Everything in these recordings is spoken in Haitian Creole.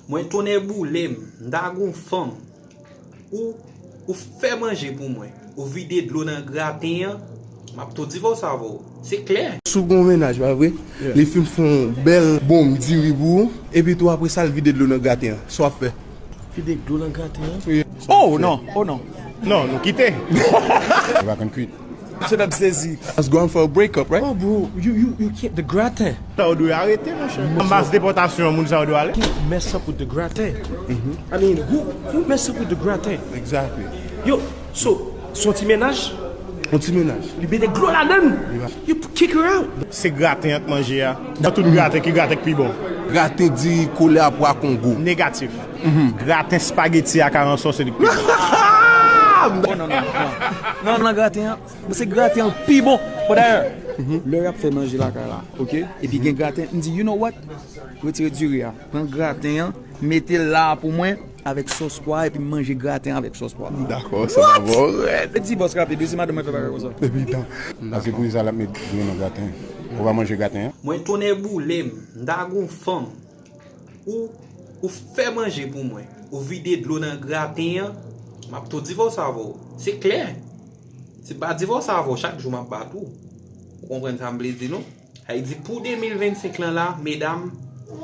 Mwen tonnè boule m, m ta gon fanm. Ou, ou fè manje pou mwen. Ou vide dlo nan graten an, m ap tou divòse avè w. Se klè! Si w gen yon mennaj, pa vre? Li fin fè yon bèl bonm diri pou ou, epi tou apre sa l vide dlo nan graten an. Sa w ap fè? Vide dlo nan graten an? O, non! O, non! Non, nou kite! Ou pa konn kuit? Shut up zezi. Us going for a break up right. Oh bro you can't the gratin. Sa yo dwe arete monchè. Nan baz depotasyon moun sa yo dwe ale. Who mess up with the gratin I mean who mess up with the gratin. Exactly. Yo so son ti mennaj. Yon ti mennaj. Li mete dlo ladann. You kick her out. Se graten an k manje a. Nan tout graten ki graten k pi bon. Graten diri kole a pwa kongo. Negatif. Mph graten spaghetti ak aransò se li k pi bon. Mph. Oh non non non nan graten an bon se graten an k pi bon bon dayè lè yap fè manje lakay la ok epi gen graten mdi you know what retire diri a pran graten an metel la pou mwen avèk sòs pwa a epim manje graten an avèk sòs pwa a dakò sa va bon rèd mdi bòs rapid wi si madanm mwen fè bagay konsa epi tan pase pou kisa lap met diri nan graten ou pa manje graten an. Mwen tonnè boulem m ta gon fanm Ou Ou fè manje pou mwen. Ou vide dlo nan graten an. M ap tou divòse avè w. Se klè. Si m pa divòse avè w chak jou m ap bat ou. Ou konprann sa m vle di nou? Sa vle di pou 2025 lan la, medam,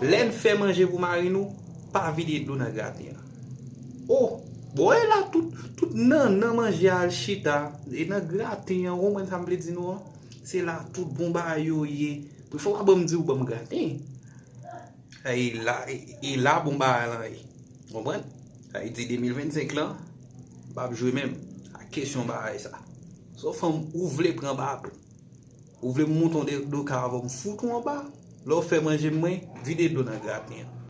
lè n fè manje pou mari nou, pa vide dlo nan graten an. O! Bon e la tout, tout nannan manje a al chita. E nan graten an, ou konprann sa m vle di nou an? Se la tout bon bagay yo ye. Pou fò w pa ban m di w ban m graten. E la bon bagay lan ye. Konprann? Sa vle di 2025 lan, m pap jwe menm ak kesyon bagay sa. Sou fòm ou vle pran baton. Ou vle m mouton de do ka avèw m fout ou anba. Lè w fè manje mwen, vide dlo nan graten an.